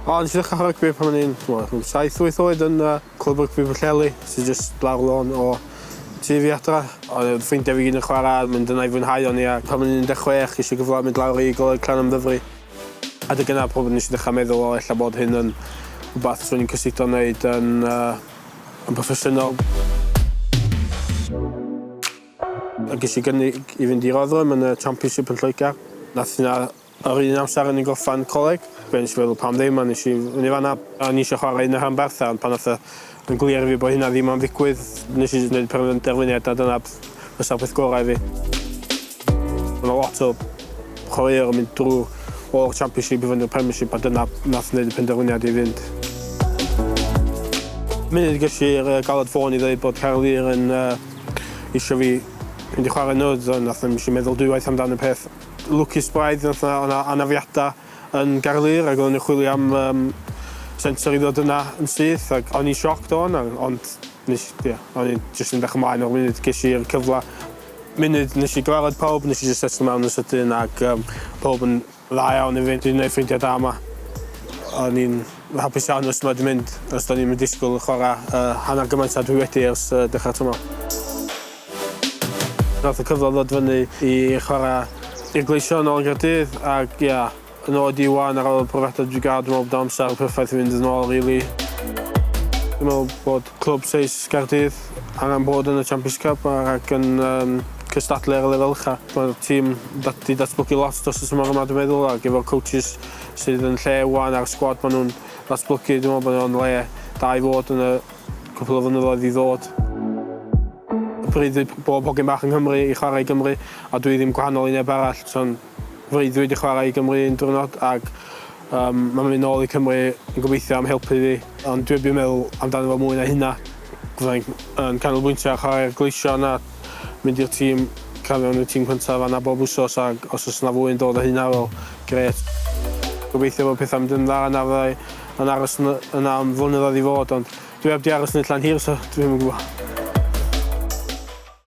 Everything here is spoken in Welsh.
O, nes i ddechrau rygbi pan o'n i'n rhyw 7-8 oed yn uh, clwb rygbi Pwllheli, sy'n just lawr lôn o tu fi adra. Oedd yn ffrindiau fi gyd yn chwarae, mynd yna i fwynhau o'n i, a pan o'n i'n 16, nes i gyfle mynd lawr i Goleg Clan am ddyfru. A dy gyna pob nes i ddechrau meddwl o ella bod hyn yn rhywbeth sy'n i'n cysyllto wneud yn, uh, yn proffesiynol. Ac es i gynnig i fynd i roddwm yn y Championship yn Lloegr. Nath hynna yr un amser o'n i'n gorffan coleg. Ac o'n i jyst yn meddwl pam ddim a nes i fynd i fanna. O'n i isio chwarae yn y rhanbarth a pan nath yn glir i fi bo' hynna ddim am ddigwydd nes i jyst neud penderfyniad na dyna fysa'r peth gorau i fi. Ma' 'na lot o chwaraewyr yn mynd drw o'r Championship i fynd i'r Premiership a dyna nath neud y penderfyniad i fynd. Munud gesh i'r galwad ffôn i ddeud bod Caerlŷr yn yy isio fi mynd i chwarae nydd a nath 'na nesh i meddwl dwywaith amdan y peth lwcus braidd nath 'na o' 'na anafiada yn Gaerlŷr ag oddon ni chwilio am yym sensor i ddod yna yn syth ag o'n i'n shocked o hwnna ond nesh ia o'n i jyst yn edrych ymlaen o'r funud gesh i'r cyfla munud nesh i gyfarfod pawb nesh i jyst setlo mewn yn sydyn ag yym pawb yn Dda iawn i fi, dwi'n neud ffrindia da yma. O'n i'n hapus iawn os ma di mynd, os do'n i'm yn disgwyl chwara hanner gymaint a dwi wedi ers dechrau'r tymor. Nath y cyfle ddod fyny i chwara i'r Gleision nôl yn Gaerdydd ac ia, yn ôl ydi ŵan ar ôl y profiada dwi di ga'l, dwi me'wl bod o amsar perffaith i fynd yn ôl rili. Dwi me'wl bod Clwb Seis Caerdydd angen bod yn y Champions Cup ac yn um, cystadlu ar y lefel ucha. Mae'r tîm dat di datblygu lot dros y tymor yma dwi'n meddwl ac efo'r coaches sydd yn lle wan a'r sgwad maen nhw'n ddatblygu dwi'n meddwl bod nhw'n le da i fod yn y cwpl o fynyddoedd i ddod. Bryd i bob hogyn bach yng Nghymru i chwarae i Gymru a dwi ddim gwahanol i neb arall so'n Freuddwyd i chwarae i Gymru un diwrnod ac yym mae mynd nôl i Cymru yn gobeithio am helpu fi ond dwi erbyn meddwl amdano fo mwy na hynna. Fydda i'n yn canolbwyntio ar chwarae'r Gleision a mynd i'r tîm crafu mewn i'r tîm cyntaf fan'na bob wsos ac os oes 'na fwy yn dod o hynna wel grêt. Gobeithio bod pethau'n mynd yn dda yna fydda i yn aros yn yna am flynyddoedd i fod ond dwi heb 'di aros yn y Llan Hir so dwi'm yn gwybod.